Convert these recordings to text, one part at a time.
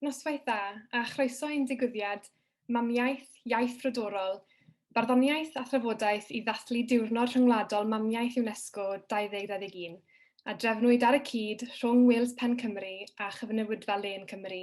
Noswaith dda, a chroeso i'n digwyddiad Mamiaith, Iaith Frodorol, Barddoniaeth a Thrafodaeth i ddathlu Diwrnod Rhyngwladol Mamiaith UNESCO 2021, a drefnwyd ar y cyd rhwng Wales Pen Cymru a Chyfnewidfa Lên Cymru,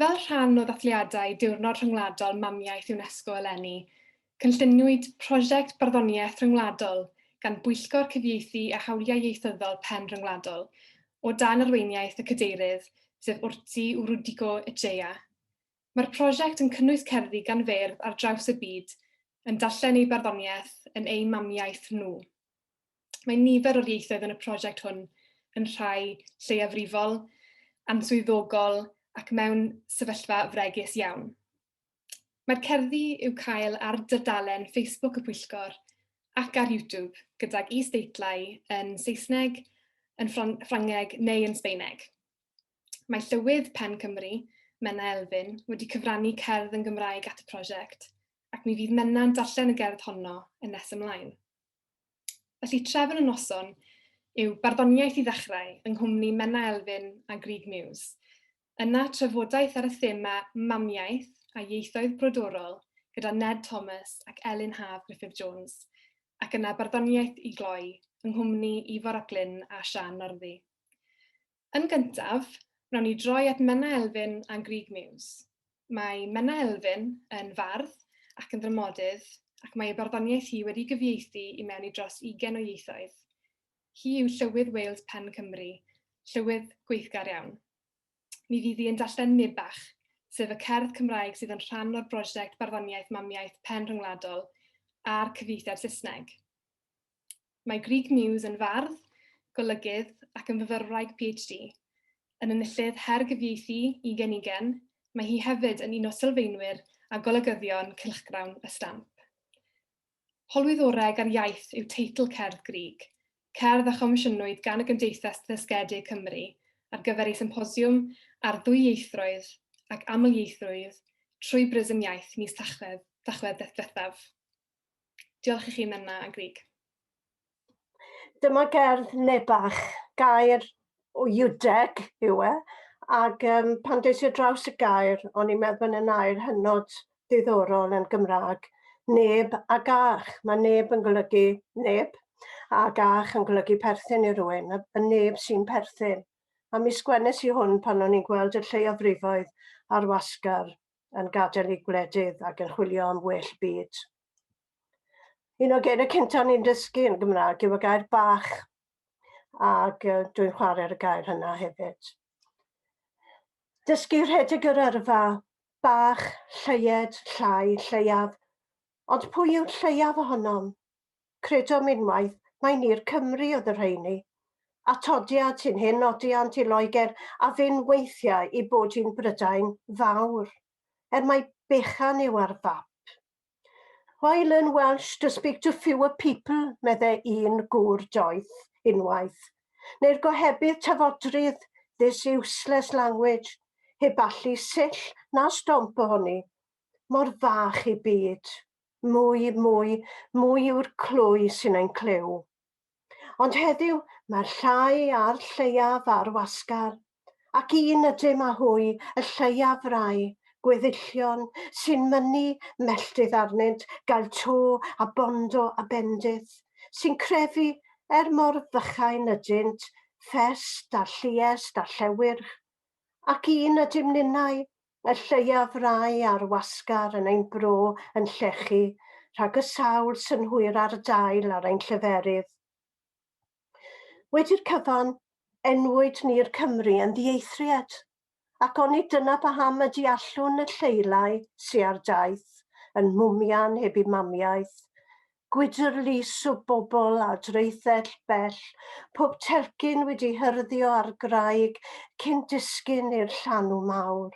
Fel rhan o ddathliadau Diwrnod Rhyngwladol Mamiaith UNESCO eleni, cynlluniwyd prosiect barddoniaeth ryngwladol gan Bwyllgor Cyfieithu a Hawliau Ieithyddol Pen Rhyngwladol, o dan arweiniaeth y Cadeirydd, sef Urtzi Urudico Echea. Mae'r prosiect yn cynnwys cerddi gan feirdd ar draws y byd yn darllen eu barddoniaeth yn eu mamiaith nhw. Mae nifer o'r ieithoedd yn y prosiect hwn yn rhai lleiafrifol, answyddogol ac mewn sefyllfa fregus iawn. Mae'r cerddi i'w cael ar dudalen Facebook y Pwyllgor ac ar YouTube gydag is-deitlau yn Saesneg, yn Ffrangeg neu yn Sbaeneg. Mae Llywydd Pen Cymru, Menna Elfyn, wedi cyfrannu cerdd yn Gymraeg at y prosiect ac mi fydd Menna'n darllen y gerdd honno yn nes ymlaen. Felly trefn y noson yw barddoniaeth i ddechrau yng nghwmni Menna Elfyn a Grug Muse. Yna trafodaeth ar y thema mamiaith a ieithoedd brodorol gyda Ned Thomas ac Elin Haf Gruffydd Jones, ac yna barddoniaeth i gloi yng nghwmni Ifor ap Glyn a Siân Northy. Yn gyntaf, wnawn ni droi at Menna Elfyn a'n Grug Muse. Mae Menna Elfyn yn fardd ac yn ddramodydd ac mae ei barddoniaeth hi wedi gyfieithu i mewn i dros ugain o ieithoedd. Hi yw Llywydd Wales Pen Cymru, llywydd gweithgar iawn. Mi fydd hi yn darllen Nibach, sef y cerdd Cymraeg sydd yn rhan o'r brosiect Barddoniaeth Mamiaith Pen Rhyngwladol a'r cyfieithiad Saesneg. Mae Grug Muse yn fardd, golygydd ac yn fyfyrwraig PhD. Yn enillydd Her Gyfieithu Ugen Ugen, mae hi hefyd yn un o sylfaenwyr a golygyddion cylchgrawn y stamp. Holwyddoreg ar Iaith yw teitl cerdd Grug, cerdd a chomisiynwyd gan y Gymdeithas Ddysgedig Cymru ar gyfer ei symposiwm ar ddwyieithroedd ac amlieithrwydd trwy brism iaith mis Tachwedd ddiwethaf. Diolch i chi, Menna a Grig. Dyma gerdd Nebach, gair o Iwdeg yw e, ac um, pan des i draws y gair, o'n i'n meddwl yn air hynod ddiddorol yn Gymraeg, neb a gach. Mae neb yn golygu neb, a gach yn golygu perthyn i rywun, y neb sy'n perthyn. A mi sgwennes i hwn pan o'n i'n gweld y lleiafrifoedd ar wasgar yn gadael eu gwledydd ac yn chwilio am well byd. Un o geiriau cyntaf ni'n dysgu yn Gymraeg yw y gair bach, ac dwi'n chwarae ar y gair hynna hefyd. Dysgu rhedeg yr yrfa, bach, lleied, llai, lleiaf, ond pwy yw'r lleiaf ohonom? Credom unwaith mai ni'r Cymry oedd y rheiny. Atodiad sy'n hen nodiant i Loegr a fynn weithiau i bod hi'n Brydain Fawr, er mai bechan yw ar fap. Why learn Welsh to speak to fewer people, medde un gŵr doeth unwaith, neu'r gohebydd tafodrydd, this useless language, heb allu sill na stomp ohoni, mor fach ei byd. Mwy, mwy, mwy yw'r clwy sy'n ein clyw. Ond heddiw, mae'r llai a'r lleiaf ar wasgar, ac un ydym â hwy y lleiaf rai gweddillion sy'n mynnu melltith arnynt gael to a bondo a bendith, sy'n crefu, er mor fychain ydynt, ffest a lluest a llewyrch. Ac un ydym ninnau, Mae'r lleiaf rai ar wasgar yn ein bro yn llechu rhag y sawl synhwyr ar dail ar ein lleferydd. Wedi'r cyfan, enwyd ni'r Cymry yn ddieithriad, ac onid dyna paham y deallwn y lleilai sy ar daith yn mhwmian heb eu mamiaith, Gwydr lys o bobl a draethell bell, pob telcyn wedi hyrddio ar graig cyn disgyn i'r llanw mawr.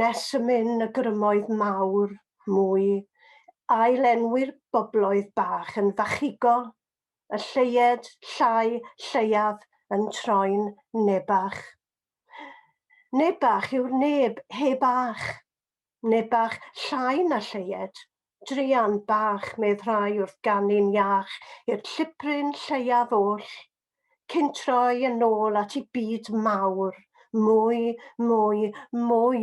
Nes y myn y grymoedd mawr, mwy, ail-enwi'r bobloedd bach yn fachigol, y lleied, llai, lleiaf, yn troi'n nebach. Nebach yw'r neb, heb ach. Ne bach llai na lleied? Druan bach, medd rhai wrth ganu'n iach i'r llibryn lleiaf oll. Cyn troi yn ôl at ei byd mawr. Mwy, mwy, mwy.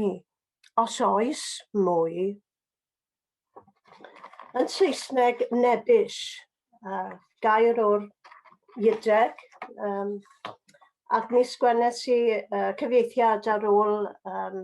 Os oes mwy. Yn Saesneg, nebbish. Uh, gair o'r Iudeg. Um, ac mi sgwennes i uh, cyfieithiad ar ôl um,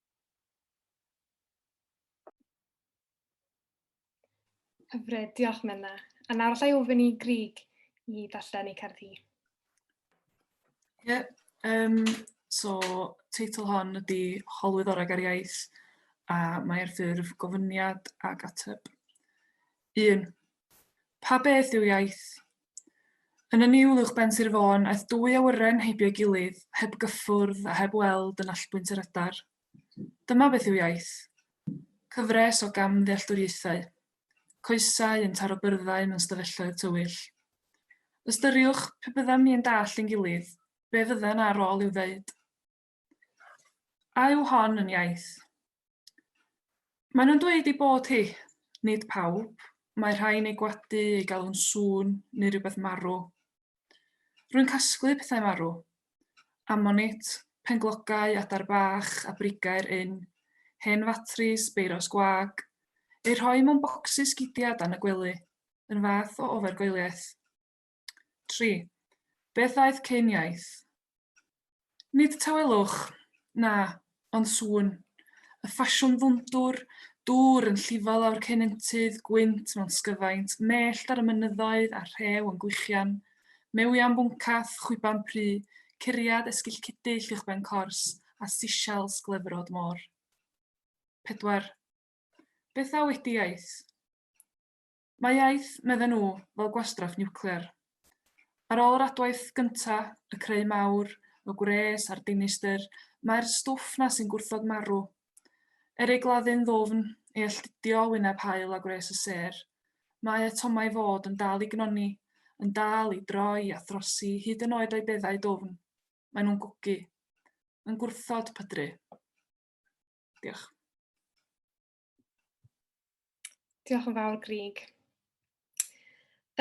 Hyfryd, diolch Menna. A nawr allai ofyn i Grig i ddarllen ei cerdd hi. Ie, yeah, um, so teitl hon ydy Holwydd Orag ar Iaith a mae ar ffurf gofyniad ac ateb. 1. Pa beth yw iaith? Yn y niwl uwchben Sir Fôn aeth dwy awyren heibio'i gilydd, heb gyffwrdd a heb weld yn allbwynt yr adar. Dyma beth yw iaith. Cyfres o gamddealltwriaethau. Coesau yn taro byrddau mewn stafelloedd tywyll. Ystyriwch, pe byddem ni yn dallt ein gilydd, be fydden ar ôl i'w ddeud? A yw hon yn iaith? Maen nhw'n dweud ei bod hi. Nid pawb. Mae rhai'n ei gwadu, ei galw'n sŵn, neu rhywbeth marw. Rwy'n casglu pethau marw. Ammonit, penglogau, adar bach, a brigau'r ynn, hen fatris, beiros gwag, eu rhoi mewn bocsys gidiau dan y gwely, yn fath o ofergoeliaeth. 3. Beth ddaeth cyn iaith? Nid tawelwch, na, ond sŵn. Y ffasiwn ddwndwr, dŵr yn llifo lawr cenentydd, gwynt mewn sgyfaint, mellt ar y mynyddoedd a rhew yn gwichian, mewiau'n bwncath, chwiban pry, curiad esgill cudyll uwchben cors, a seashells glefrod môr. 4. Beth ddaw wedi iaith? Mae iaith, medden nhw, fel gwastraff niwclear. Ar ôl yr adwaith gynta', y creu mawr, y gwres a'r dinistr, mae'r stwff 'na sy'n gwrthod marw. Er ei gladdu'n ddwfn, ei alltudio o wyneb haul a gwres y sêr, mae atomau fod yn dal i gnoni, yn dal i droi a throsi hyd yn oed o'i beddau dwfn. Maen nhw'n gwgu. Yn gwrthod pydru. Diolch. Diolch yn fawr, Grig.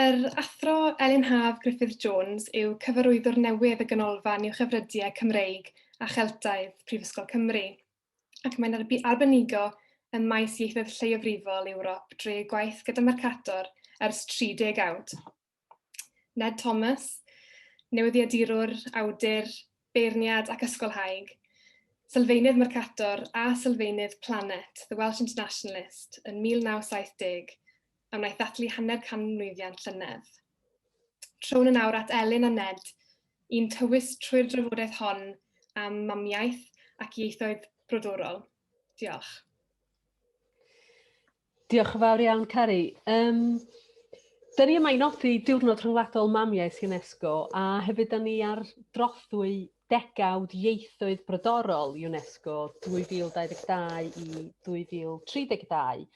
Yr athro Elin Haf Griffith Jones yw cyfarwyddwr newydd y Ganolfan i'w Chyfrydiau Cymreig a Cheltaidd, Prifysgol Cymru, ac mae'n arbenigo ym maes ieithoedd lleiafrifol Ewrop drwy ei gwaith gyda Mercator ers 30 awd. Ned Thomas, newyddiadurwr, awdur, beirniad ac ysgolhaig, sylfaenydd Mercator a sylfaenydd Planet, The Welsh Internationalist, yn 1970, a wnaeth ddathlu hanner canmlwyddiant llynedd. Trown yn awr at Elin a Ned, i'n tywys trwy'r drafodaeth hon am mamiaith ac ieithoedd brodorol. Diolch. Diolch yn fawr iawn, Cari. Um, da ni yma i nodi Diwrnod Rhyngwladol Mamiaith UNESCO a hefyd da ni ar drothwy degawd ieithoedd brodorol UNESCO 2022 i 2032.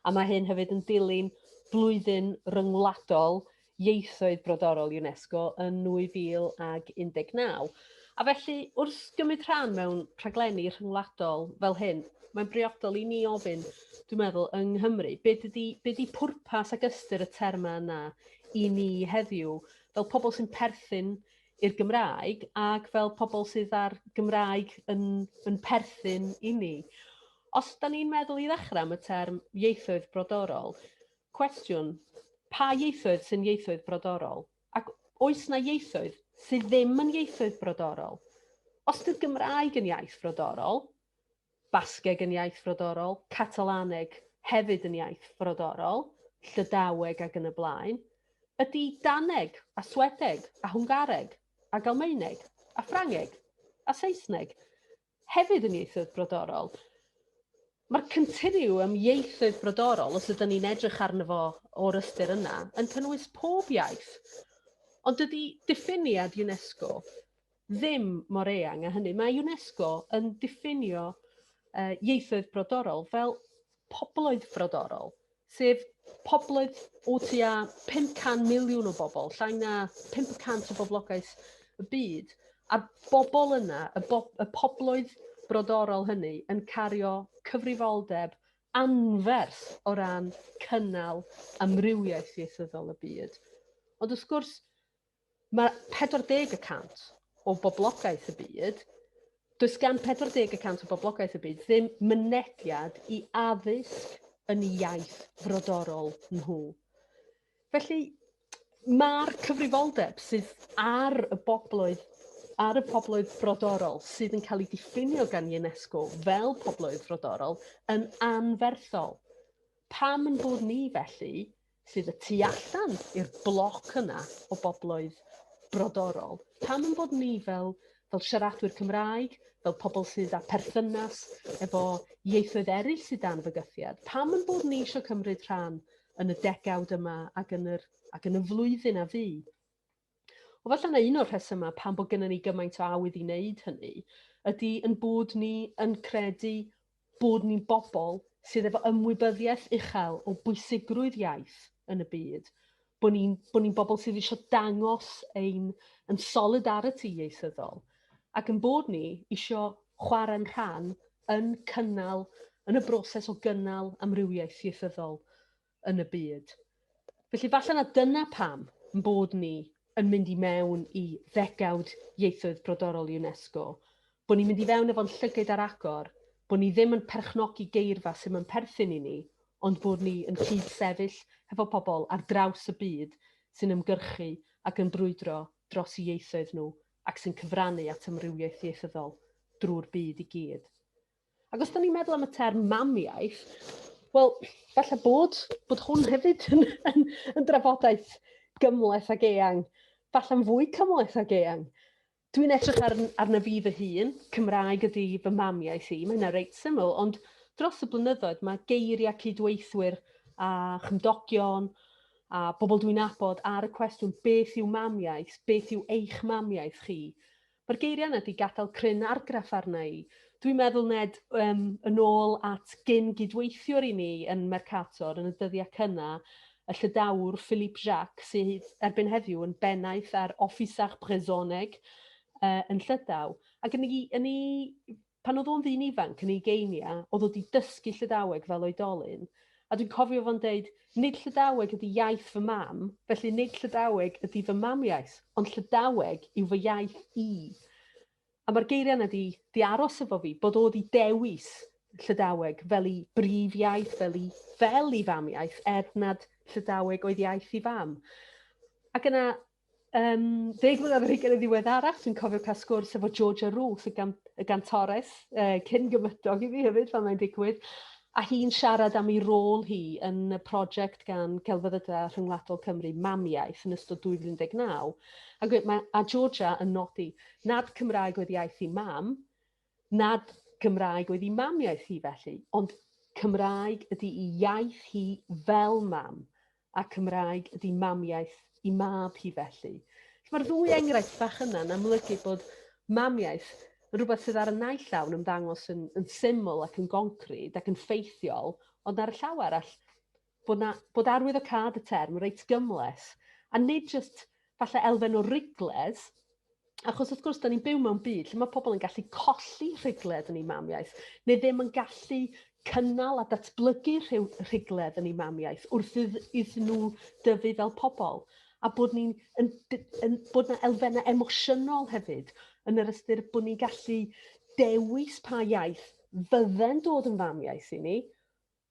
A mae hyn hefyd yn dilyn blwyddyn ryngwladol Ieithoedd Brodorol UNESCO yn 2019, a felly wrth gymryd rhan mewn rhaglenni rhyngwladol fel hyn, mae'n briodol i ni ofyn, dwi'n meddwl, yng Nghymru, beth ydy, be ydy pwrpas ac ystyr y termau yna i ni heddiw, fel pobl sy'n perthyn i'r Gymraeg ac fel pobl sydd â'r Gymraeg yn, yn perthyn i ni. Os da ni'n meddwl i ddechrau am y term ieithoedd brodorol, Cwestiwn, Pa ieithoedd sy'n ieithoedd brodorol? Ac oes 'na ieithoedd sydd ddim yn ieithoedd brodorol? Os ydy'r Gymraeg yn iaith frodorol, Basgeg yn iaith frodorol, Catalaneg hefyd yn iaith frodorol, Llydaweg ac yn y blaen, ydy Daneg a Swedeg a Hwngareg a Galmaeneg a Ffrangeg a Saesneg Hefyd yn ieithoedd brodorol. Mae'r Continuum Ieithoedd Brodorol, os ydyn ni'n edrych arno fo o'r ystyr yna, yn cynnwys pob iaith. Ond dydy diffiniad UNESCO ddim mor eang a hynny. Mae UNESCO yn diffinio uh, ieithoedd brodorol fel pobloedd brodorol. sef pobloedd o tua 500 miliwn o bobl, llai na 500 o boblogaeth y byd, a'r bobl yna, y, bo y pobloedd brodorol hynny, yn cario cyfrifoldeb anferth o ran cynnal amrywiaeth ieithyddol y byd. Ond wrth gwrs, Mae 40 y cant o boblogaeth y byd, does gan 40 y cant o boblogaeth y byd ddim mynediad i addysg yn y iaith frodorol nhw. Felly, mae'r cyfrifoldeb sydd ar y bobloedd ar y pobloedd frodorol sydd yn cael ei diffinio gan UNESCO fel pobloedd frodorol yn anferthol. Pam yn bod ni felly sydd y tu allan i'r bloc yna o bobloedd brodorol. Pam yn bod ni fel fel siaradwyr Cymraeg, fel pobl sydd â perthynas efo ieithoedd eraill sydd dan fygythiad. Pam yn bod ni eisiau cymryd rhan yn y degawd yma ac yn, yr, ac yn y flwyddyn a fu? O falle na un o'r rhesymau pam bod gennym ni gymaint o awydd i wneud hynny ydy yn bod ni yn credu bod ni'n bobl sydd efo ymwybyddiaeth uchel o bwysigrwydd iaith yn y byd, bod ni'n bod ni bobl sydd eisiau dangos ein yn solidarity ieithyddol, ac yn bod ni eisiau chwarae'n rhan yn cynnal, yn y broses o gynnal amrywiaeth ieithyddol. yn y byd. Felly falle na dyna pam yn bod ni yn mynd i mewn i ddegawd ieithoedd brodorol UNESCO, bod ni'n mynd i fewn efo'n llygyd ar agor, bod ni ddim yn perchnogi geirfa sy'n yn perthyn i ni, ond bod ni yn cyd-sefyll hefo pobl ar draws y byd sy'n ymgyrchu ac yn brwydro dros ieithoedd nhw ac sy'n cyfrannu at amrywiaeth ieithyddol drwy'r byd i gyd. Ac os da ni'n meddwl am y term mamiaith, wel, falle bod, bod hwn hefyd yn, yn, yn drafodaeth gymleth ag eang, falle'n fwy cymleth ag eang. Dwi'n edrych ar, arna fi fy hun, Cymraeg ydy fy mamiaith i, mae yna reit syml, ond dros y blynyddoedd mae geiriau cydweithwyr a chymdogion a bobl dwi'n abod ar y cwestiwn beth yw mamiaith, beth yw eich mamiaith chi, Mae'r geiriau yna 'di gadael cryn argraff arna i. Dwi'n meddwl, Ned, um, yn ôl at gyn gydweithiwr i mi yn Mercator yn y dyddiau cynna, y llydawr Philippe Jacques, sydd erbyn heddiw yn bennaeth ar Officer Brezoneg uh, yn Llydaw. Ac yn ei, yn ei Pan oedd o'n ddyn ifanc yn ei geiniau, oedd o 'di dysgu Llydaweg fel oedolyn, a dwi'n cofio fo'n deud, 'Nid Llydaweg ydi iaith fy mam, felly nid Llydaweg ydi fy mamiaith, ond Llydaweg yw fy iaith i. A mae'r geiriau yna 'di 'di aros efo fi, bod o 'di dewis Llydaweg fel ei brif iaith, fel ei fel ei famiaith, er nad Llydaweg oedd iaith ei fam. Ac yna, Um, deg mlynedd ar hugain yn ddiweddarach, dwi'n cofio cael sgwrs efo Georgia Ruth, y, gan, y gantores, uh, cyn gymydog i fi hefyd fan mae'n digwydd, a hi'n siarad am ei rôl hi yn y prosiect gan Gelfyddydau Rhyngwladol Cymru, Mamiaeth, yn ystod 2019. A, mae, a Georgia yn nodi nad Cymraeg oedd iaith i mam, Nad Gymraeg oedd ei mamiaith hi felly, ond Cymraeg ydy ei iaith hi fel mam, a Cymraeg ydy mamiaith ei mab hi felly. Mae'r ddwy enghraifft bach yna yn amlygu bod mamiaith yn rhywbeth sydd ar y naill llaw yn ymddangos yn, yn syml ac yn goncrid ac yn ffeithiol, ond ar y llaw arall, bod, na, bod arwyddocâd y term reit gymles, a nid just falle elfen o rigled, achos wrth gwrs, da ni'n byw mewn byd lle mae pobl yn gallu colli rhigled yn ei mamiaeth, neu ddim yn gallu cynnal a datblygu rhyw rhigledd yn ei mamiaeth wrth iddyn nhw dyfu fel pobl a bod ni'n yn, yn, bod na elfennau emosiynol hefyd yn yr ystyr bod ni'n gallu dewis pa iaith fydde'n dod yn famiaeth i ni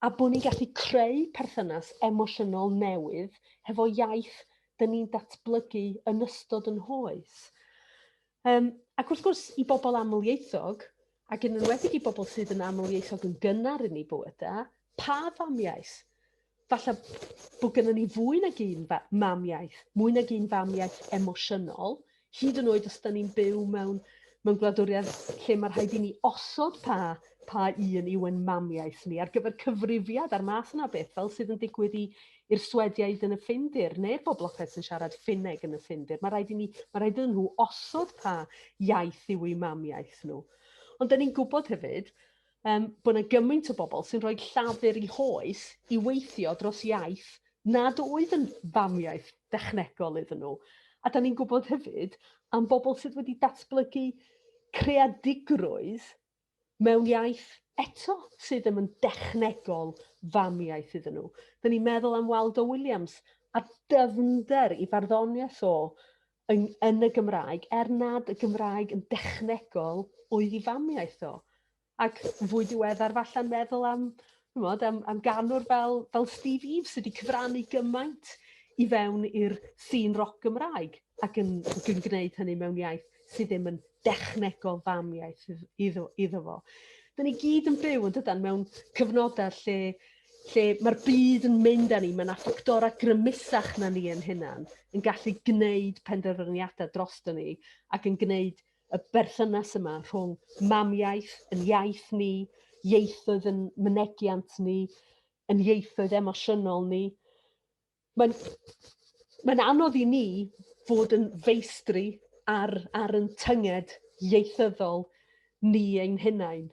A bod ni'n gallu creu perthynas emosiynol newydd hefo iaith dyn ni'n datblygu yn ystod yn hoes. Um, ac wrth gwrs, i bobl amlieithog, ac yn enwedig i bobl sydd yn amlieithog yn gynnar yn ei bywyda, pa famiaeth? Falle bod gennym ni fwy nag un mam iaith, mwy nag un fam iaith emosiynol, Hyd yn oed os da ni'n byw mewn, mewn gwladwriaeth lle mae rhaid i ni osod pa, pa un yw yn mamiaeth ni ar gyfer cyfrifiad a'r math yna beth, fel sydd yn digwydd i, i'r Swediaid yn y Ffindir, neu'r boblogaeth sy'n siarad Ffinneg yn y Ffindir. Mae rhaid, i ni, mae rhaid iddyn nhw osod pa iaith yw eu mamiaith nhw. Ond da ni'n gwybod hefyd, um, bod yna gymaint o bobl sy'n rhoi llafur i hoes i weithio dros iaith nad oedd yn famiaeth dechnegol iddyn nhw. A da ni'n gwybod hefyd am bobl sydd wedi datblygu creadigrwydd mewn iaith eto sydd ddim yn dechnegol famiaeth iddyn nhw. Da ni'n meddwl am Waldo Williams a dyfnder i farddoniaeth o yn, yn y Gymraeg, er nad y Gymraeg yn dechnegol oedd i famiaeth o. Ac fwy diweddar falle'n meddwl am, chymod, am, am ganwr fel, fel Steve Eves sydd wedi cyfrannu gymaint i fewn i'r sîn roc Gymraeg ac yn, ac yn gwneud hynny mewn iaith sydd ddim yn dechnegol famiaeth iddo, iddo fo. Dyna ni gyd yn byw yn dydan mewn cyfnodau lle lle mae'r byd yn mynd â ni, mae yna ffactorau grymusach na ni yn hunan yn gallu gwneud penderfyniadau drosto ni ac yn gwneud y berthynas yma rhwng mamiaeth, yn iaith ni, ieithoedd yn mynegiant ni, yn ieithoedd emosiynol ni. mae'n mae'n anodd i ni fod yn feistri ar ar yn tynged ieithyddol ni ein hunain.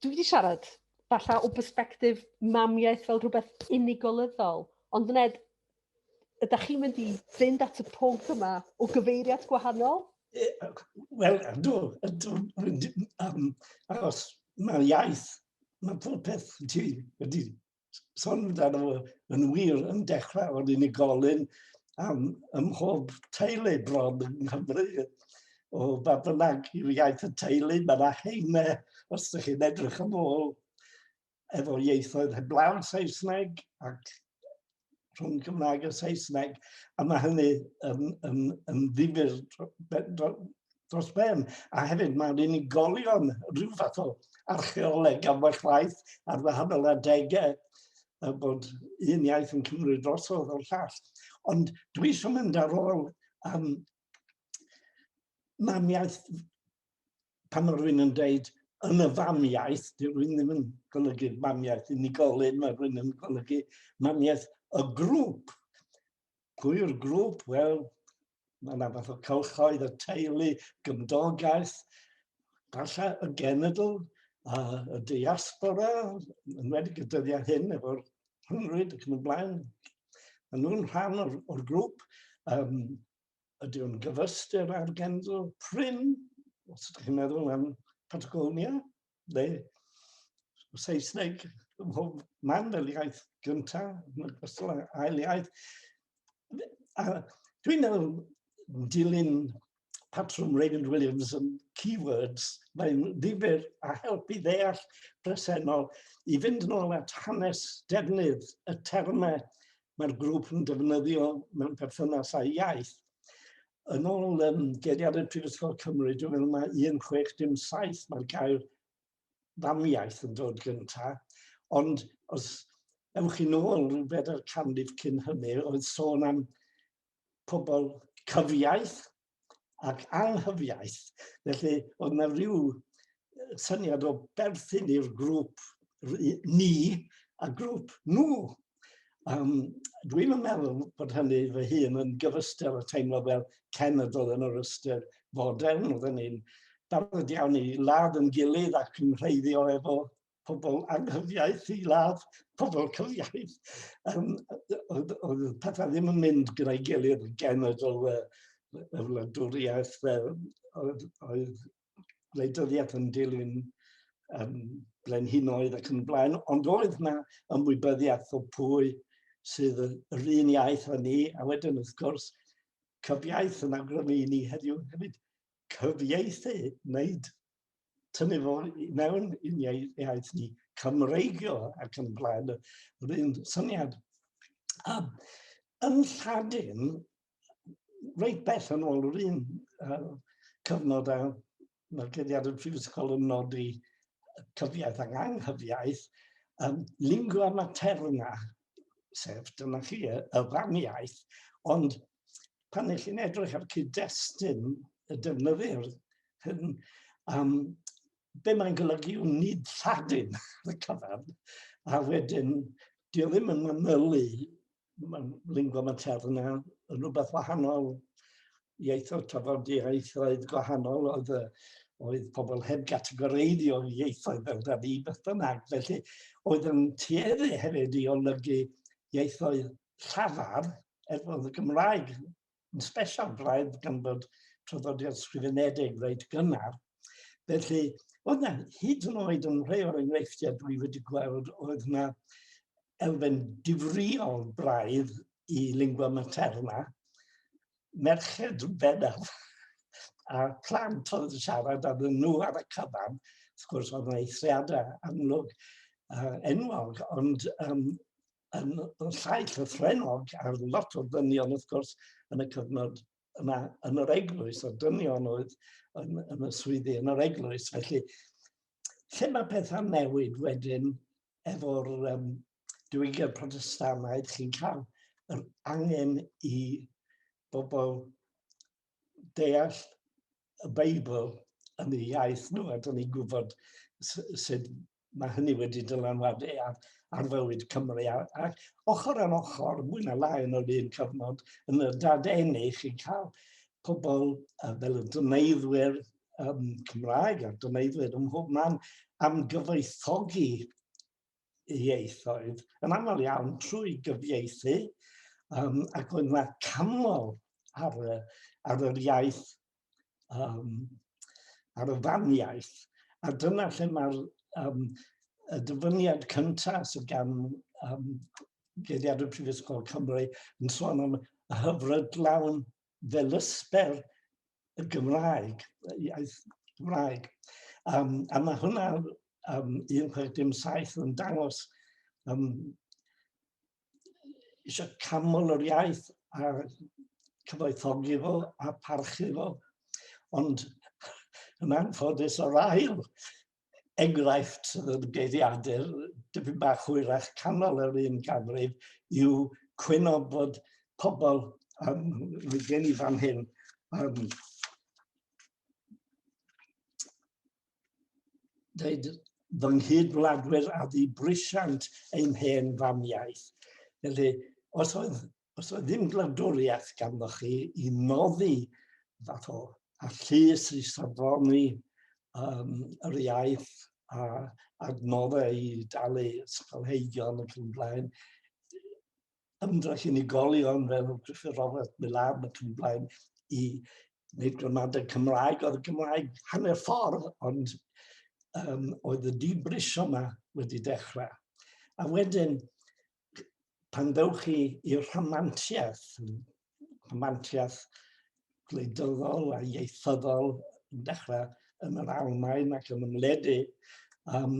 Dwi wedi siarad falle o bersbectif mamiaeth fel rhywbeth unigolyddol, ond Ned, ydych chi'n mynd i fynd at y pwnc yma o gyfeiriad gwahanol? Wel, ydw, ydw, um, achos mae'r iaith, mae pob peth ti wedi sôn amdano fo, yn wir, yn dechrau o'n unigolyn am ym mhob teulu bron yng Nghymru, o ba bynnag yw iaith y teulu, mae yna heine, os ydych chi'n edrych yn ôl, efo ieithoedd heblaw Saesneg ac rhwng Cymraeg a Saesneg, a mae hynny yn, yn, yn ddifur dros ben, a hefyd mae'n unigolion rhyw fath o archeoleg am eich waith ar wahanol adegau a bod un iaith yn cymryd drosodd o'r llall. Ond dwi eisiau mynd ar ôl um, mamiaeth pan mae rhywun yn dweud yn y famiaeth, dwi rhywun ddim yn golygu mamiaeth unigolyn, mae rhywun yn golygu mamiaeth y grŵp. Pwy yw'r grŵp? Wel, Mae yna fath o cylchoedd y teulu, gymdogaeth, falle y genedl, a y diaspora, yn wedi y dyddiau hyn efo'r rhyngrwyd ac yn y blaen. Mae nhw'n rhan o'r, or grŵp. Um, ydy o'n gyfystyr ar genedl prin, os ydych chi'n meddwl am Patagonia, le Saesneg ym mhob man fel iaith gyntaf, yn ogystal â ail iaith. A dwi'n meddwl dilyn patrwm Raymond Williams yn keywords, mae'n ddifur a helpu ddeall presennol i fynd yn ôl at hanes defnydd y termau mae'r grŵp yn defnyddio mewn perthynas â'i iaith. yn ôl um, geiriadau Prifysgol Cymru, dwi'n meddwl mae 1607, mae'r gair famiaeth yn dod gyntaf, ond os ewch i'n ôl rhyw bedair canrif cyn hynny, oedd sôn am pobl cyfiaeth ac anghyfiaeth. Felly, oedd yna rhyw syniad o berthyn i'r grŵp ni a grŵp nhw. Um, Dwi'm yn meddwl bod hynny fy hun yn gyfystyr o teimlo fel cenedl yn yr ystyr fodern. Oedden ni'n barod iawn i ladd yn gilydd ac yn rheiddio efo pobl anghyfiaeth i ladd pobl cyfiaeth. Um, oedd, oedd pethau ddim yn mynd gyda'i gilydd genedl y, y wladwriaeth oedd, oedd wleidyddiaeth yn dilyn um, brenhinoedd ac yn blaen, ond oedd yna ymwybyddiaeth o pwy sydd yr un iaith â ni, a wedyn wrth gwrs, cyfiaith yn awgrymu i ni heddiw hefyd cyfieithu, wneud tynnu fo mewn i'n iaith ni, Cymreigio ac yn blaen, yr un syniad. A yn Lladin, reit bell yn ôl yr un uh, cyfnod a mae'r gediad y prifysgol yn nodi cyfiaeth ac anghyfiaeth, um, lingua materna, sef dyna chi y, y famiaeth, ond pan ych chi'n edrych ar cyd-destun y defnyddir hyn, um, be mae'n golygu yw nid lladin y cyfan, a wedyn, dio ddim yn manylu mae'n lingua materna yn rhywbeth wahanol, ieithoedd tafodieithoedd gwahanol oedd, oedd pobl heb gategoreiddio ieithoedd fel da ni beth bynnag. Felly oedd yn tueddu hefyd i olygu ieithoedd llafar er bod y Gymraeg yn special braidd gan bod traddodiad sgrifenedig reit gynnar. Felly, oedd na hyd yn oed yn rhai o'r enghreifftiau dwi wedi gweld oedd na elfen difriol braidd i lingua materna, merched bennaf, a plant oedd yn siarad ar nhw ar y cyfan, wrth gwrs oedd yna eithriadau amlwg uh, enwog, ond um, yn, yn llai llythrennog ar lot o ddynion wrth gwrs yn y cyfnod yma yn yr eglwys, a dynion oedd yn, yn y swyddi yn yr eglwys. Felly, lle mae pethau'n newid wedyn efo'r um, diwygiad protestanaidd, chi'n cael yr angen i bobl deall y Beibl yn ei iaith nhw, a dyn ni'n gwybod sut mae hynny wedi dylanwadu ar, ar fywyd Cymru. Ac ochr ar ochr, mwy na lai yn yr un cyfnod, yn y dadeni chi'n cael pobl uh, fel y dyneiddwyr um, Cymraeg a'r dyneiddwyr ym mhob man am gyfoethogi ieithoedd yn aml iawn trwy gyfieithu um, ac oedd yna canmol ar, ar yr iaith um, ar y faniaeth, a dyna lle mae'r um, y dyfyniad cyntaf sydd gan um, Geiriad y Prifysgol Cymru yn sôn am y hyfrydlawn fel ysber y Gymraeg, iaith Gymraeg. Um, a mae hwnna um, 1617 yn dangos um, eisiau canmol yr iaith a cyfoethogi fo a parchu fo. Ond yn anffodus o'r ail enghraifft y geiriadur, dyfyn bach hwyrach canol yr un ganrif, yw cwyno bod pobl, um, mae gen i fan hyn, um, dweud fy nghyd-wladwyr a ddi brisiant ein hen famiaith. Felly, os oedd, os oedd ddim gwladwriaeth ganddo chi i noddi fath o a llys i safoni um, yr iaith a adnoddau i dalu ysgolheigion ac yn blaen, ymdrech unigolion fel Griffith Robert Milan ac yn blaen i wneud gramadeg Cymraeg. Oedd y Gymraeg hanner ffordd, ond um, oedd y dibrisio yma wedi dechrau. A wedyn, pan ddewch chi i'r rhamantiaeth, rhamantiaeth gwleidyddol a ieithyddol yn dechrau yn yr Almaen ac yn ymledu, um,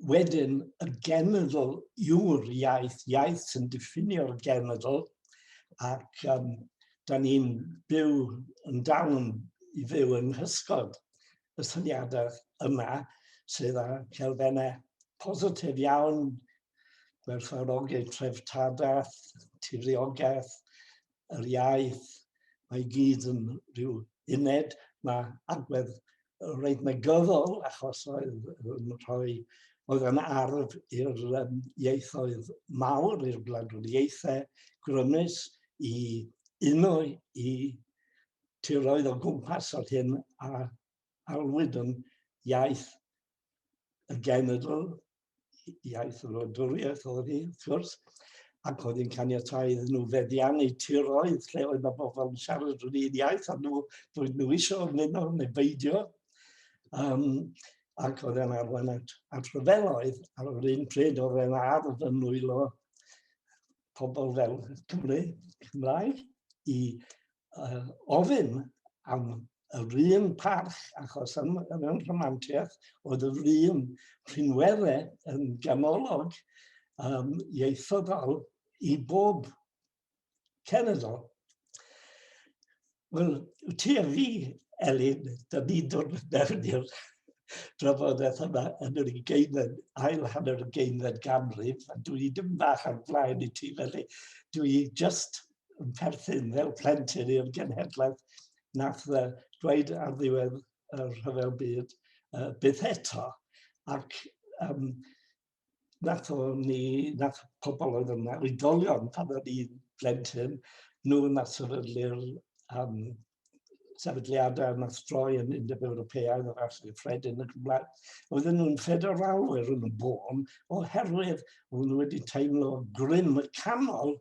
wedyn y genedl yw'r iaith, iaith sy'n diffinio'r genedl, ac um, da ni'n byw yn dal yn i fyw yng nghysgod y syniadau yma sydd â celfennau positif iawn, gwerthfawrogi treftadaeth, tiriogaeth, yr iaith, mae gyd yn rhyw uned, mae agwedd reit negyddol achos oedd yn rhoi oedd yn arf i'r um, ieithoedd mawr, i'r gwladwriaethau grymus i uno i tiroedd o gwmpas o'r hyn a alwyd yn iaith y genedl iaith yr wladwriaeth oedd hi, wrth gwrs, ac oedd hi'n caniatau iddyn nhw feddiannu tiroedd lle oedd mae bobl yn siarad yr un iaith a nhw, roedd nhw eisiau ymuno neu beidio. Um, ac oedd e'n arwain at, at ryfeloedd ar yr un pryd oedd e'n ardd yn nwylo pobl fel Cymru Cymraeg i uh, ofyn am yr un parch, achos am yr un rhamantiaeth, oedd yr un rhinwere yn ganolog um, ieithyddol i bob cenedl. Wel, ti a fi, Elin, da ni'n dod mewn i'r drafodaeth yma yn yr ugeinfed, ail hanner y geinfed ganrif, a dwi dim bach ar flaen i ti, felly dwi just yn perthyn fel plentyn i'r genhedlaeth nath dweud ar ddiwedd y rhyfel byd uh, byth eto. Ac um, nath o ni, nath pobl oedd yna, oedolion pan oedd i'n blentyn, nhw nath sefydlu'r um, sefydliadau yma stroi yn Undeb Ewropeaidd o'r Arthur Fred yn y Gymraeg. Oedden nhw'n ffederalwyr yn y bôn oherwydd oedden nhw wedi teimlo grym y canol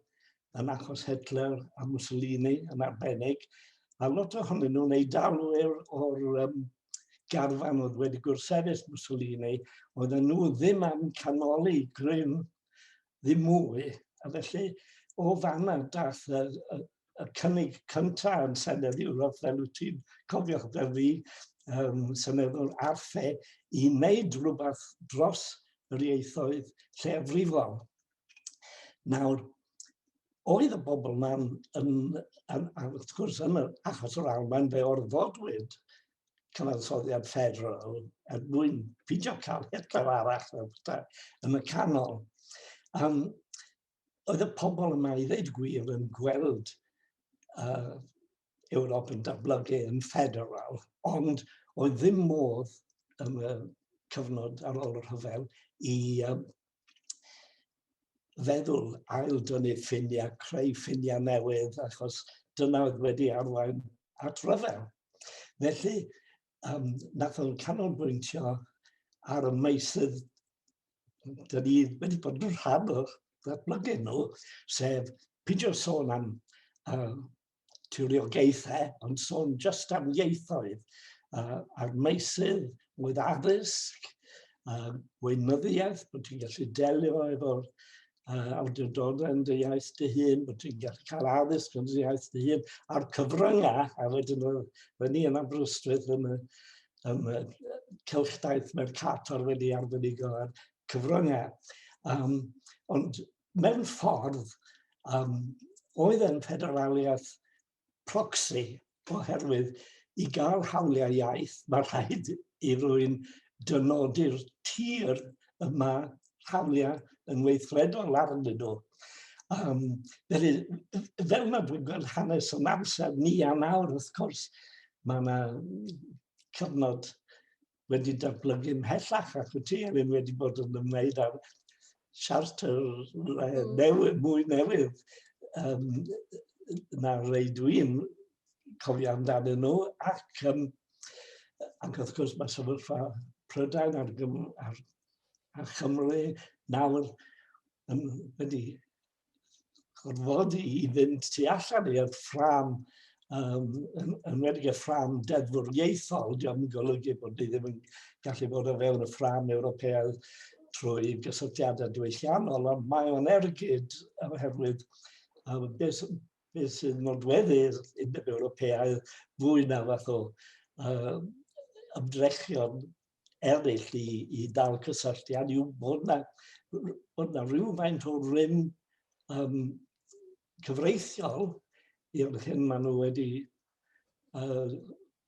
yn achos Hitler a Mussolini yn arbennig, a lot ohonyn nhw'n ei dalu o'r um, garfan oedd wedi gwrthsefyll Mussolini, oedd nhw ddim am canoli grym ddim mwy, a felly o fanna dath y, y, y cynnig cyntaf yn Senedd Ewrop, fel wyt ti'n cofio fel fi, um, Seneddwr Arfe, i wneud rhywbeth dros yr ieithoedd lleiafrifol. Nawr, oedd y bobl ma'n yn, yn, yn, wrth gwrs yn yr achos o'r Almaen fe orfodwyd cyfansoddiad fferol er mwyn pidio cael Hitler arall yn y canol. Um, oedd y pobl yma i ddweud gwir yn gweld uh, Ewrop yn datblygu yn ffederal, ond oedd ddim modd yn y cyfnod ar ôl y rhyfel i um, feddwl ail dynnu ffiniau, creu ffiniau newydd, achos dyna oedd wedi arwain at ryfel. Felly, um, nath o'n canolbwyntio ar y meisydd dyn ni wedi bod yn rhan o'r ddatblygu nhw, sef peidio sôn am uh, tiriogaethau, ond sôn jyst am ieithoedd uh, a'r meisydd oedd addysg, uh, weinyddiaeth, bod ti'n gallu delio efo'r uh, awdurdodau yn dy iaith dy hun, bod ti'n gallu cael addysg yn dy iaith dy hun, a'r cyfryngau, a wedyn oedd ni yn Aberystwyth yn y, yn y cylchdaith Mercator wedi arbenigo ar cyfryngau. Um, ond mewn ffordd, um, oedd yn federaliaeth proxy, oherwydd i gael hawliau iaith, mae rhaid i rwy'n dynodi'r tir y mae hawliau yn weithredol arnyn nhw. Um, felly, fel mae dwi'n gweld hanes yn amser ni a nawr, wrth gwrs, mae yna cyfnod wedi datblygu ymhellach ac y ti hefyd wedi bod yn ymwneud â'r siarter mm. newydd, mwy newydd um, na rei dwi'n cofio amdano nhw ac, um, ac wrth gwrs mae sefyllfa Prydain ar, ar, ar Chymru nawr yn wedi gorfod i fynd tu allan i'r ffram, um, yn, yn wedi y ffram deddfwriaethol, diolch yn golygu bod ni ddim yn gallu bod o fewn y ffram Ewropeaidd trwy gysylltiadau diwylliannol, ond mae o'n ergyd oherwydd um, beth, beth sy'n nodweddu'r Undeb Ewropeaidd fwy na fath o uh, ymdrechion eraill i, i dal cysylltiad yw bod yna, bod yna rhywfaint o rym um, cyfreithiol i'r hyn maen nhw wedi uh,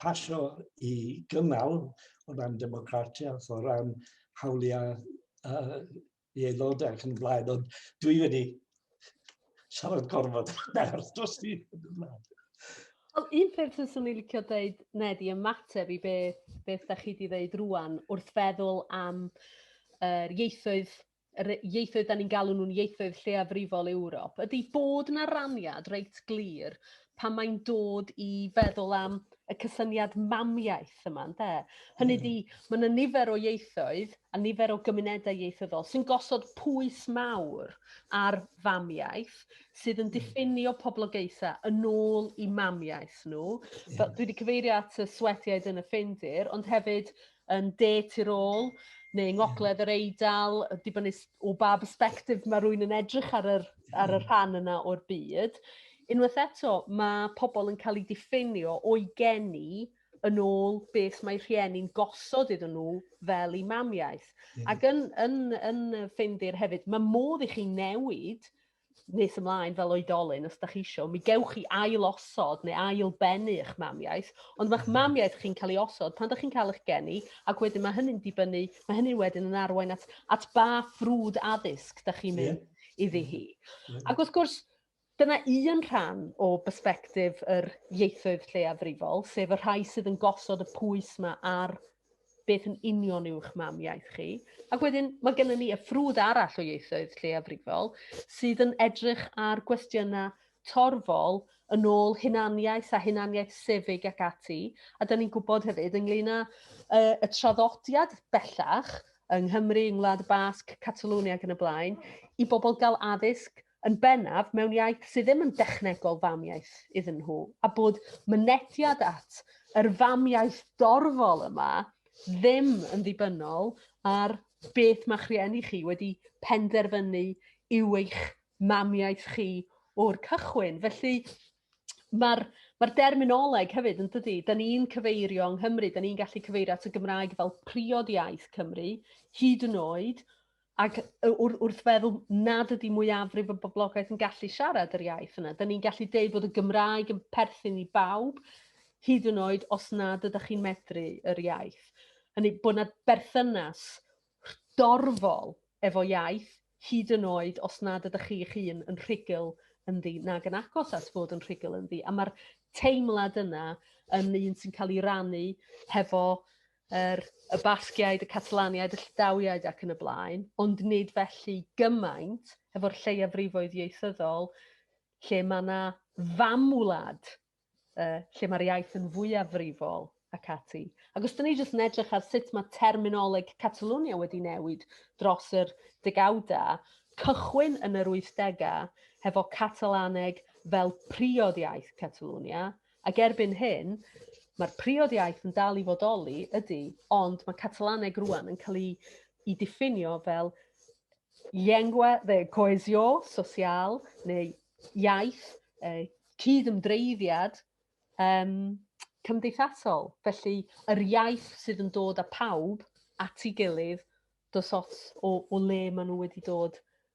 pasio i gynnal o ran democratiaeth, o ran hawliau uh, i aelodau ac yn blaen, ond dwi wedi siarad gorfod nawr dros ti. Wel, un peth sy'n swn i'n licio dweud, Ned, i ymateb i beth, beth da chi wedi dweud rwan wrth feddwl am uh, ieithoedd yr ieithoedd da ni'n galw nhw'n ieithoedd lleiafrifol Ewrop, ydy bod na raniad reit glir pan mae'n dod i feddwl am y cysyniad mamiaeth yma, ynde? Hynny ydi, hmm. mae yna nifer o ieithoedd a nifer o gymunedau ieithyddol sy'n gosod pwys mawr ar famiaeth sydd yn hmm. diffinio poblogaethau yn ôl i mamiaeth nhw. Fel, dwi wedi cyfeirio at y swetiaid yn y ffeindir, ond hefyd yn de tu'r ôl neu yng ngogledd yr Eidal yy dibynnu s- o ba bersbectif ma' rywun yn edrych ar yr ar y rhan yna o'r byd unwaith eto ma' pobol yn ca'l 'u diffeinio o'i geni yn ôl beth mae rhieni'n gosod iddyn nhw fel 'u mamiaith. Ie. Ac yn yn yn yy Ffindir hefyd ma' modd i chi newid nes ymlaen fel oedolyn, os da chi isio, mi gewch chi ail osod neu ail bennu eich mamiaeth, ond mae'ch mhm. mamiaeth chi'n cael ei osod pan da chi'n cael eich geni, ac wedyn mae hynny'n dibynnu, mae hynny wedyn yn arwain at, at ba ffrwd addysg da chi'n mynd yeah. iddi hi. Yeah. Ac wrth gwrs, Dyna un rhan o bersbectif yr ieithoedd lleiafrifol, sef y rhai sydd yn gosod y pwys yma ar beth yn union yw'ch mam iaith chi. Ac wedyn mae gennym ni y ffrwd arall o ieithoedd lleiafrifol sydd yn edrych ar gwestiynau torfol yn ôl hunaniaeth a hunaniaeth sefyg ac ati. A da ni'n gwybod hefyd ynglyn â uh, y traddodiad bellach yng Nghymru, yng Ngwlad y Basg, Catalwni ac yn y blaen, i bobl gael addysg yn bennaf mewn iaith sydd ddim yn dechnegol famiaith iddyn nhw, a bod mynediad at yr famiaith dorfol yma ddim yn ddibynnol ar beth mae'ch rhieni chi wedi penderfynu yw eich mamiaith chi o'r cychwyn. Felly, mae'r ma derminoleg hefyd yn dydy, da ni'n cyfeirio yng Nghymru, da ni'n gallu cyfeirio at y Gymraeg fel priod iaith Cymru, hyd yn oed Ac wrth feddwl nad ydy mwyafrif y boblogaeth yn gallu siarad yr iaith yna, dyn ni'n gallu deud bod y Gymraeg yn perthyn i bawb, hyd yn oed os nad ydych chi'n medru yr iaith. Hynny, bod yna berthynas dorfol efo iaith, hyd yn oed os nad ydych chi eich hun yn rhugl ynddi nag yn agos at fod yn rhugl ynddi. A mae'r teimlad yna yn un sy'n cael ei rannu hefo yr, y Basgiaid, y Catalaniaid, y Llidawiaid ac yn y blaen, ond nid felly gymaint efo'r lleiafrifoedd ieithyddol lle mae yna famwlad, uh, lle mae'r iaith yn fwyafrifol ac ati. Ac os dyn ni jyst yn edrych ar sut mae terminoleg Catalonia wedi newid dros yr degawdau, cychwyn yn yr 80au hefo Catalaneg fel priod iaith Catalonia, Ac erbyn hyn, mae'r priod iaith yn dal i fodoli, ydy, ond mae Catalaneg rwan yn cael ei, ei diffinio fel llengua de coesio sosial neu iaith eh, cyd-ymdreiddiad um, cymdeithasol. Felly, yr iaith sydd yn dod â pawb at ei gilydd dos ots o, o le maen nhw wedi dod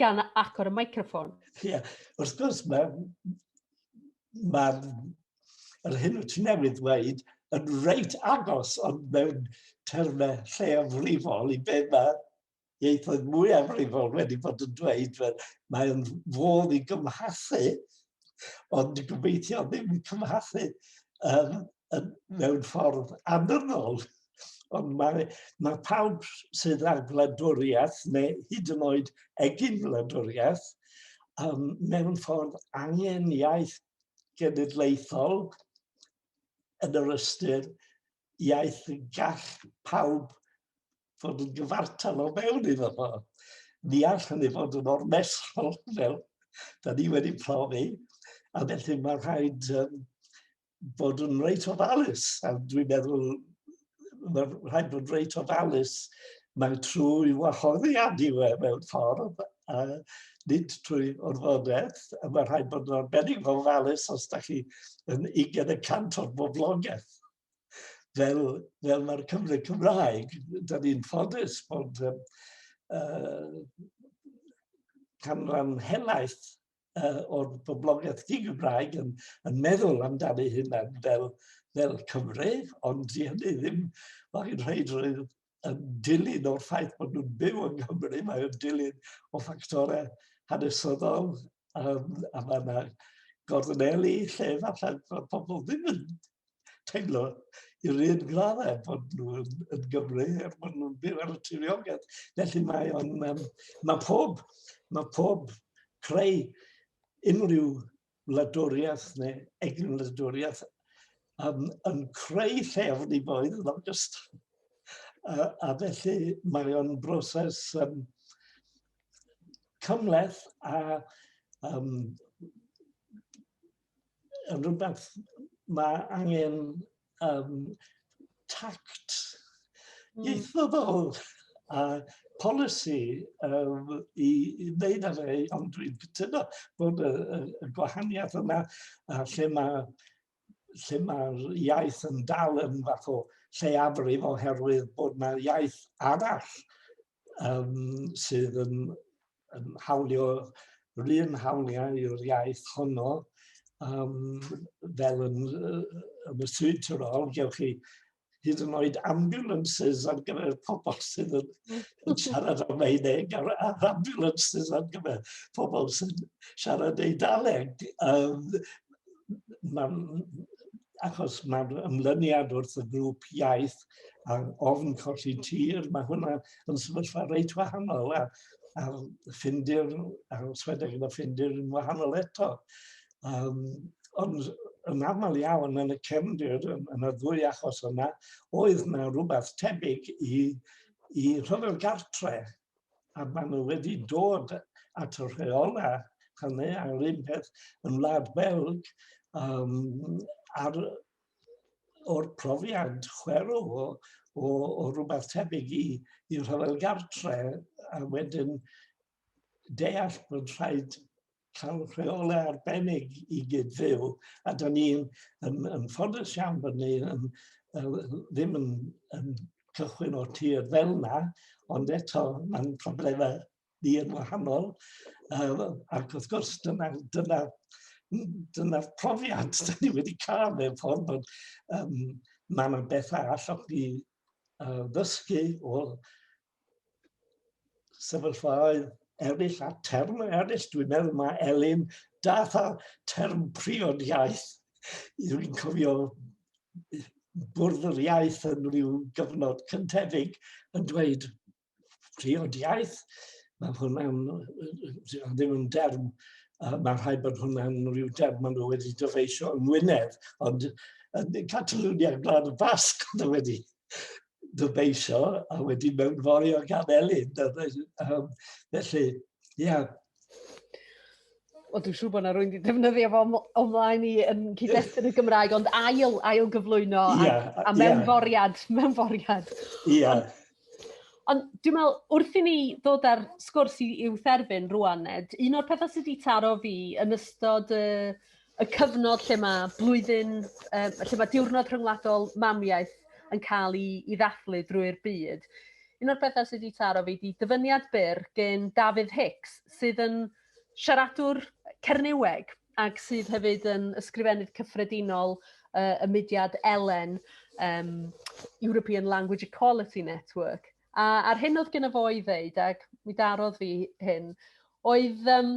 Gan agor y microffon. Ie, yeah. wrth gwrs, mae'r ma, yr hyn wyt ti'n newydd ddweud yn reit agos ond mewn termau lleiafrifol i be mae ieithoedd mwy amrifol wedi bod yn dweud, fe, mae'n fodd i gymhasu, ond gobeithio ddim cymhasu um, mewn ffordd annynnol, ond mae, mae pawb sydd â gwladwriaeth neu hyd yn oed egin gwladwriaeth um, mewn ffordd angen iaith genedlaethol yn yr ystyr iaith y gall pawb fod yn gyfartal o mewn iddo fo. Ni all hynny fod yn ormesol fel da ni wedi profi, a felly mae rhaid um, fod yn reit ofalus, a dwi'n meddwl mae rhaid bod reit ofalus mewn trwy wahoddiad i we mewn ffordd, a nid trwy orfodaeth, a mae rhaid bod yn arbennig fel falus os da chi yn 20 y cant o'r boblogaeth. Fel, fel mae'r Cymru Cymraeg, da ni'n ffodus bod um, uh, canran helaeth uh, o'r boblogaeth di-Gymraeg yn, yn meddwl amdani hynna fel, fel Cymru, ond di hynny ddim, mae hi'n rhaid rhaid yn dilyn o'r ffaith bod nhw'n byw yng Nghymru, mae o'n dilyn o ffactorau hanesyddol, um, a mae yna gorneli lle falle bod pobl ddim yn teimlo i'r un graddau bod nhw yn, yn Gymru er bod nhw'n byw ar y tiriogaeth. Felly mae, on, um, mae pob, mae pob creu unrhyw wladwriaeth neu egin wladwriaeth um, yn creu llefn i boedd yn ogystal. A, a felly mae o'n broses um, cymleth a um, yn rhywbeth mae angen um, tact hmm. ieithyddol a polisi um, i, i wneud ar ei, ond dwi'n cytuno bod y, y, y gwahaniaeth yna a lle mae lle mae'r iaith yn dal yn fath o lleiafrif oherwydd bod yna iaith arall yym sydd yn yn hawlio yr un hawliau i'r iaith honno yym fel yn yy yn y Sir Tyrol gewch chi hyd yn oed ambulances ar gyfer pobol sydd yn hmm. yn siarad Almaeneg a'r a'r ambulances ar gyfer pobol sy'n siarad Eidaleg. Yym ma'n achos mae'r ymlyniad wrth y grŵp iaith a'r ofn colli tir, mae hwnna yn sefyllfa reit wahanol a, a ffindir, a swedeg yna ffindir yn wahanol eto. Um, ond yn aml iawn yn y cefndir, yn, yn y ddwy achos yna, oedd yna rhywbeth tebyg i, i rhyfel gartre a maen nhw wedi dod at y rheolau hynny ar yr un peth yn Wlad Belg um, ar, o'r profiad chwerw o, o, o rhywbeth tebyg i, i rhyfel gartre a wedyn deall bod rhaid cael rheolau arbennig i gyd-fyw, a da ni'n ymffoddus iawn bod ni yn, ddim yn, yn cychwyn o'r tir fel yna, ond eto mae'n problemau ni yn wahanol, uh, ac wrth gwrs dyna, dyna, dyna profiad da ni wedi cael mewn ffordd bod um, mae yna bethau allwch chi uh, ddysgu o sefyllfaoedd eraill a term eraill. Dwi'n meddwl mae Elin dath a term priod iaith. Dwi'n cofio bwrdd yr iaith yn rhyw gyfnod cyntefig yn dweud priod iaith. Mae hwnna'n ddim yn derm, uh, mae rhai bod hwnna'n rhyw derm maen nhw wedi dyfeisio yn Wynedd, ond yn Catalonia, Gwlad y Basg, oedd wedi dyfeisio a wedyn mewn fori o gan Elin. Um, felly, ie. Yeah. O, dwi'n siŵr bod yna rwy'n wedi defnyddio fo ymlaen i yn cyd-destun y Gymraeg, ond ail, ail gyflwyno yeah, a, a mewn yeah. foriad, mewn foriad. Ie. Yeah. Ond dwi'n meddwl, wrth i ni ddod ar sgwrs i, i'w therfyn rwan, Ned, un o'r pethau sydd wedi taro fi yn ystod y, y cyfnod lle mae blwyddyn, um, lle mae diwrnod rhyngwladol mamiaeth yn cael ei, ei ddathlu drwy'r byd. Un o'r pethau sydd wedi taro fi di dyfyniad byr gen Dafydd Hicks, sydd yn siaradwr Cernyweg ac sydd hefyd yn ysgrifennydd cyffredinol uh, y mudiad Elen, um, European Language Equality Network. A, a'r hyn oedd gen fo i ddeud, ac mi darodd fi hyn, oedd um,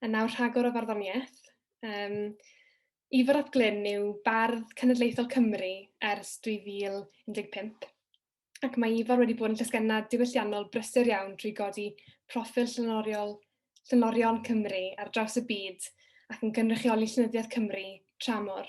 A nawr rhagor o farddoniaeth. Um, Ifor ap Glyn yw bardd cenedlaethol Cymru ers 2015 ac mae Ifor wedi bod yn llysgennad diwylliannol brysur iawn drwy godi proffil llenoriol llenorion Cymru ar draws y byd ac yn gynrychioli llenyddiaeth Cymru tramor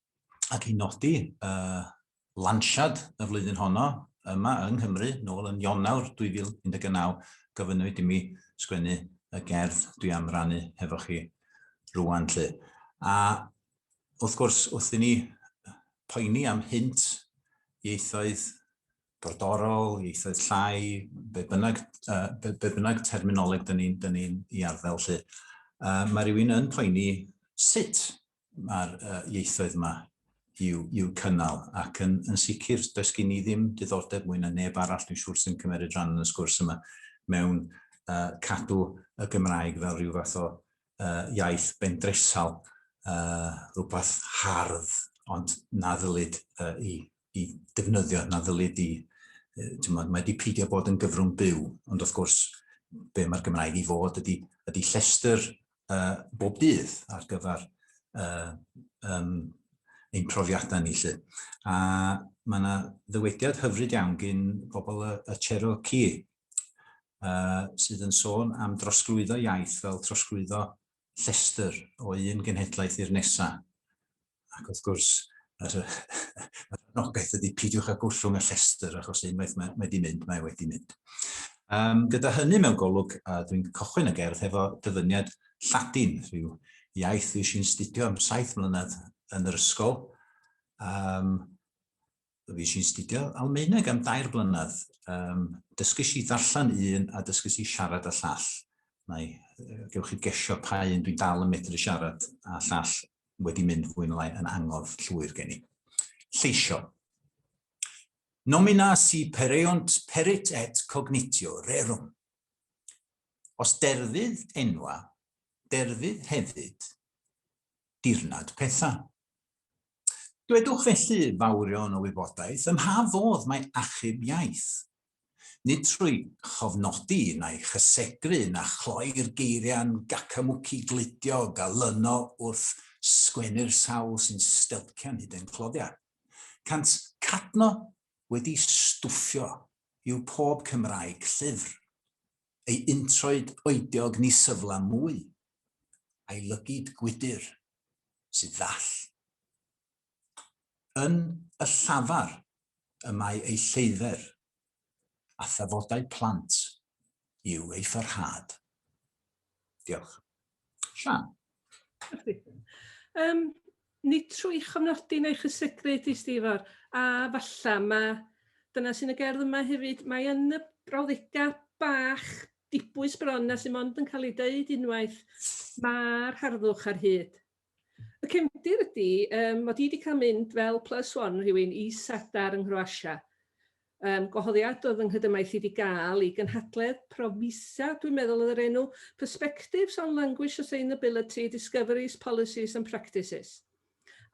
ac i nodi uh, lansiad y flwyddyn honno yma yng Nghymru, nôl yn Ionawr 2019, gofynnwyd i mi sgwennu y gerdd dwi am rannu hefo chi rwan. Lle. A wrth gwrs, wrth i ni poeni am hynt ieithoedd brodorol, ieithoedd llai, be bynnag, uh, be, be bynnag terminoleg dyn ni'n ni, ni i arddel lle. Uh, mae rhywun yn poeni sut mae'r uh, ieithoedd yma i'w, i'w cynnal. Ac yn, yn sicr, does gen i ddim diddordeb mwy na neb arall, dwi'n siŵr sy'n cymeriad rhan yn y sgwrs yma, mewn uh, cadw y Gymraeg fel rhyw fath o uh, iaith bendresal, uh, rhywbeth hardd, ond na ddylid uh, i i defnyddio na ddylid di, mae wedi peidio bod yn gyfrwng byw, ond wrth gwrs be mae'r Gymraeg i fod ydy, ydy llestr uh, bob dydd ar gyfer uh, um, ein profiadau ni lle. A mae yna ddywediad hyfryd iawn gyn bobl y, y Cherokee uh, sydd yn sôn am drosglwyddo iaith fel trosglwyddo llestr o un genhedlaeth i'r nesa. Ac wrth gwrs, yr, yr anogaeth ydy pidiwch a gollwng y llestr, achos unwaith mae, mae di mynd, mae wedi mynd. Um, gyda hynny mewn golwg, a dwi'n cychwyn y gerdd hefo dyfyniad Lladin, rhyw iaith fi sy'n studio am saith mlynedd yn yr ysgol. Um, Fi sy'n studio Almaeneg am dair blynedd. Um, dysgys i ddarllen un a dysgys i siarad y llall. Mae, gewch chi gesio pa un dwi'n dal yn medru siarad a llall wedi mynd fwy'n lai yn angof llwyr gen i. Lleisio. Nomina si pereont perit et cognitio rerum. Os derfydd enwa, derfydd hefyd dirnad pethau. Dwedwch felly, fawrion o wybodaeth, ym mha fodd mae achub iaith? Nid trwy chofnodi neu chysegru na chloi'r geiriau'n gacamwci gludiog a lyno wrth sgwennu'r sawl sy'n stelcian hyd ein cloddiau. Cant cadno wedi stwffio i'w pob Cymraeg llyfr, ei introed oediog ni syfla mwy, a'i lygid gwydr sydd ddall. Yn y llafar y mae ei lleidder, a thafodau plant yw ei pharhad. Diolch. Sian. Um, nid trwy chofnodi neu chysegru di Stifar, a falla mae, dyna sy'n y gerdd yma hefyd, mae yn y brawddegau bach dibwys bron a sydd mond yn cael ei dweud unwaith, mae'r harddwch ar hyd. Y cefndir ydy um, mod i wedi cael mynd fel plus one rhywun i Sadar yng Nghroasia. Um, gwahoddiad oedd yng nghydymaith i wedi gael i gynhadledd Promisa, dwi'n meddwl oedd yr enw, Perspectives on Language Sustainability, Discoveries, Policies and Practices.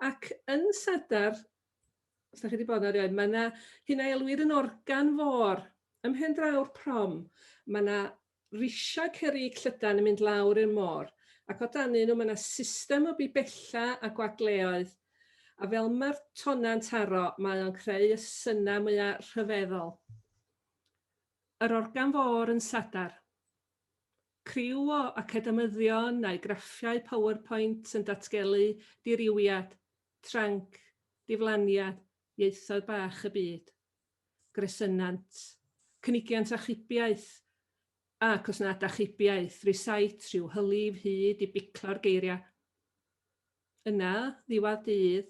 Ac yn Sadar, Os da chi wedi bod erioed, mae yna hyn a elwir yn organ fôr ym mhen draw'r prom. Mae yna risiau cerrig llydan yn mynd lawr i'r môr, ac o danyn nhw mae yna system o bibella a gwagleoedd, a fel mae'r tonau'n taro, mae o'n creu y synnau mwya rhyfeddol. Yr organ fôr yn Sadar. Criw o academyddion a'u graffiau PowerPoint yn datgelu dirywiad, tranc, diflaniad, ieithoedd bach y byd, gresynnant, cynigiant achubiaeth, ac os nad achubiaeth, rysait rhyw hylif hyd i biclo'r geiriau. Yna, ddiwedd dydd,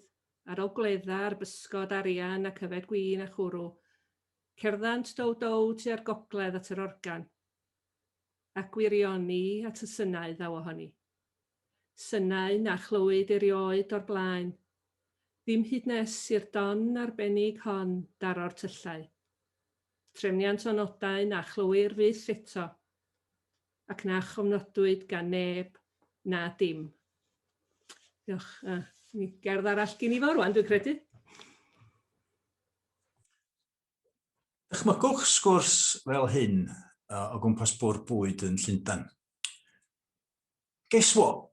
ar ol gwledda ar bysgod, arian ac yfed gwin a chwrw, cerddant dow-dow tua'r gogledd at yr organ. a gwirioni at y synau ddaw ohoni. Synau na chlywyd erioed o'r blaen, ddim hyd nes i'r don arbennig hon daro'r tyllau. Trefniant o nodau na chlywir fyth eto, ac na chofnodwyd gan neb na dim. Diolch. A, gerdd arall gin i fo rwan, dwi'n credu. Dychmygwch sgwrs fel hyn o gwmpas bwrdd bwyd yn Llundain. Guess what?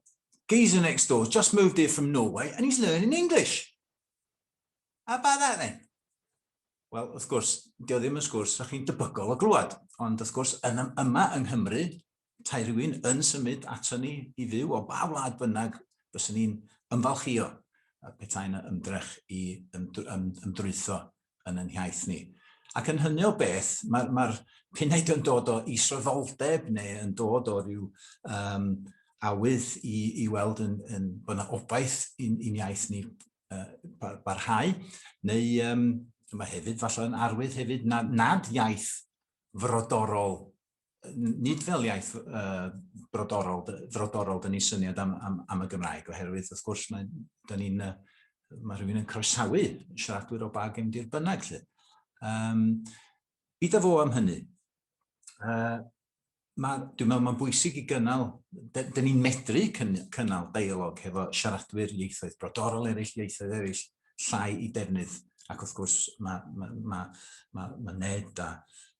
Geezer next door just moved here from Norway and he's learning English. How about that then? Wel, wrth gwrs, dio ddim yn sgwrs rydych chi'n debygol o glwad, ond wrth gwrs, yn, yma yng Nghymru, Petai rhywun yn symud aton ni i fyw o ba wlad bynnag, byswn ni'n ymfalchïo petai yna ymdrech i ymdrwytho yn yn hiaith ni. Ac yn hynny o beth, mae'r ma punaid yn dod o isroddoldeb neu yn dod o ryw um, awydd i, i weld yn, yn, bod yna obaith i'n, in iaith ni uh, barhau, neu um, mae hefyd falle yn arwydd hefyd nad, nad iaith frodorol nid fel iaith uh, brodorol, frodorol, dyn ni syniad am, am, am y Gymraeg, oherwydd, wrth gwrs, mae, dyn ni'n, mae rhywun yn croesawu siaradwyr o bag yn dir bynnag, lle. Um, byd a fo am hynny. Uh, ma, dwi'n meddwl mae'n bwysig i gynnal, dyn llai i defnydd, ac wrth gwrs mae, mae, mae, mae, mae Ned a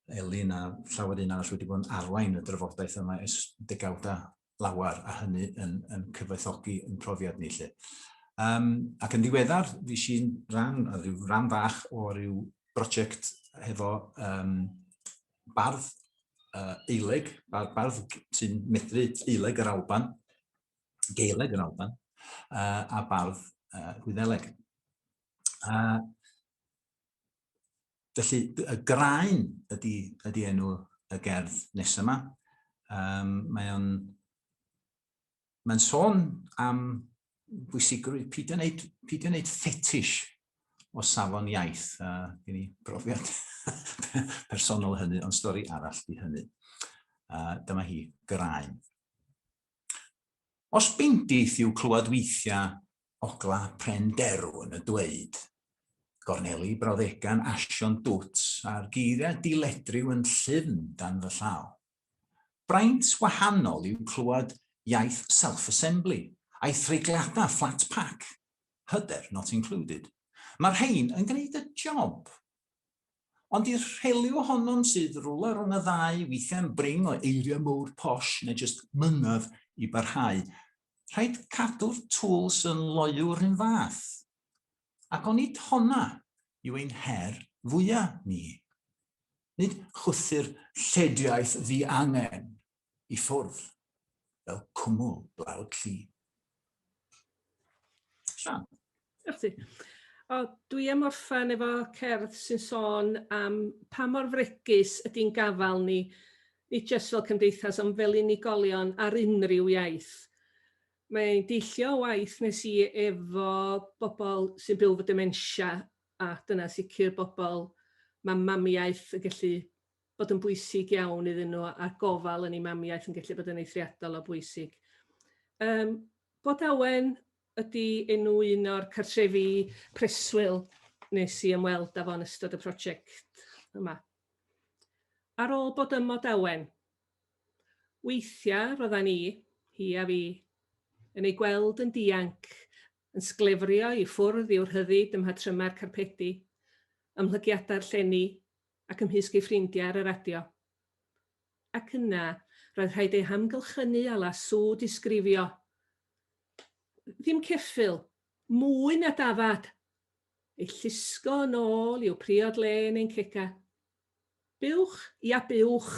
Elin a llawer un arall wedi bod yn arwain y drafodaeth yma ers degawda lawer a hynny yn, yn cyfoethogi yn profiad ni lle. Um, ac yn ddiweddar, fi si'n rhan, a rhyw rhan fach o ryw brosiect hefo um, bardd uh, eileg, bardd, bardd sy'n medru eileg yr Alban, Gaeleg yr Alban, uh, a bardd uh, Gwyddeleg. Uh, felly, y graen ydy, ydy enw y gerdd nes yma. Um, mae o'n mae'n sôn am bwysigrwydd pidio wneud, pidio wneud ffetish o safon iaith. A gen i brofiad personol hynny, ond stori arall di hynny. A dyma hi, graen. Os bendith yw clywed weithia ogla pren derw yn y dweud, gorneli brawddegan asion dwt a'r geiriau diledryw yn llyfn dan fy llaw. Braint wahanol yw clywed iaith self-assembly a'i threigliada flat pack, hyder not included. Mae'r rhein yn gwneud y job. Ond i'r rhely ohonom sydd rwla rhwng y ddau, weithiau'n bring o eiriau mowr posh neu jyst mynedd i barhau, rhaid cadw'r tools yn loyw yr un fath. Ac onid honna yw ein her fwya' ni? Nid chwythu'r llediaeth ddiangen, i ffwrdd fel cwmwl blawd llu. Sian. Diolch ti. O, dwi am orffen efo cerdd sy'n sôn am pa mor fregus ydy'n gafal ni, ni jyst fel cymdeithas, ond fel unigolion ar unrhyw iaith. Mae'n deillio o waith nes i efo bobl sy'n byw fy dementia, a dyna sicr bobl mae mamiaeth yn gallu bod yn bwysig iawn iddyn nhw a'r gofal yn ei mamiaeth yn gallu bod yn eithriadol o bwysig. Um, bod awen ydy enw un o'r cartrefi preswyl nes i ymweld â fo'n ystod y prosiect yma. Ar ôl bod ym Mod Awen, weithiau roeddan ni, hi a fi, yn ei gweld yn dianc, yn sglefrio i ffwrdd i'w rhyddid ym mhatrymau'r carpedi, ymhlygiadau'r llenni, ac ymhysg ei ffrindiau ar y radio. Ac yna, roedd rhaid ei hamgylchynu â lasŵ disgrifio. Ddim ceffyl, mwy na dafad! Ei llusgo yn ôl i'w priod lên ein cega. Buwch, ia buwch!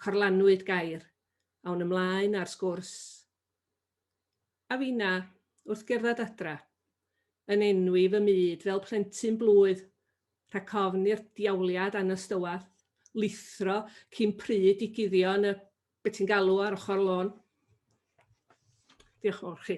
Corlanwyd gair. Awn ymlaen â'r sgwrs. A finna, wrth gerdded adra, yn enwi fy myd fel plentyn blwydd, rhag ofn i'r diawliad anystywall lithro cyn pryd i guddio yn y be ti'n galw ar ochr y lôn. Diolch yn fawr chi.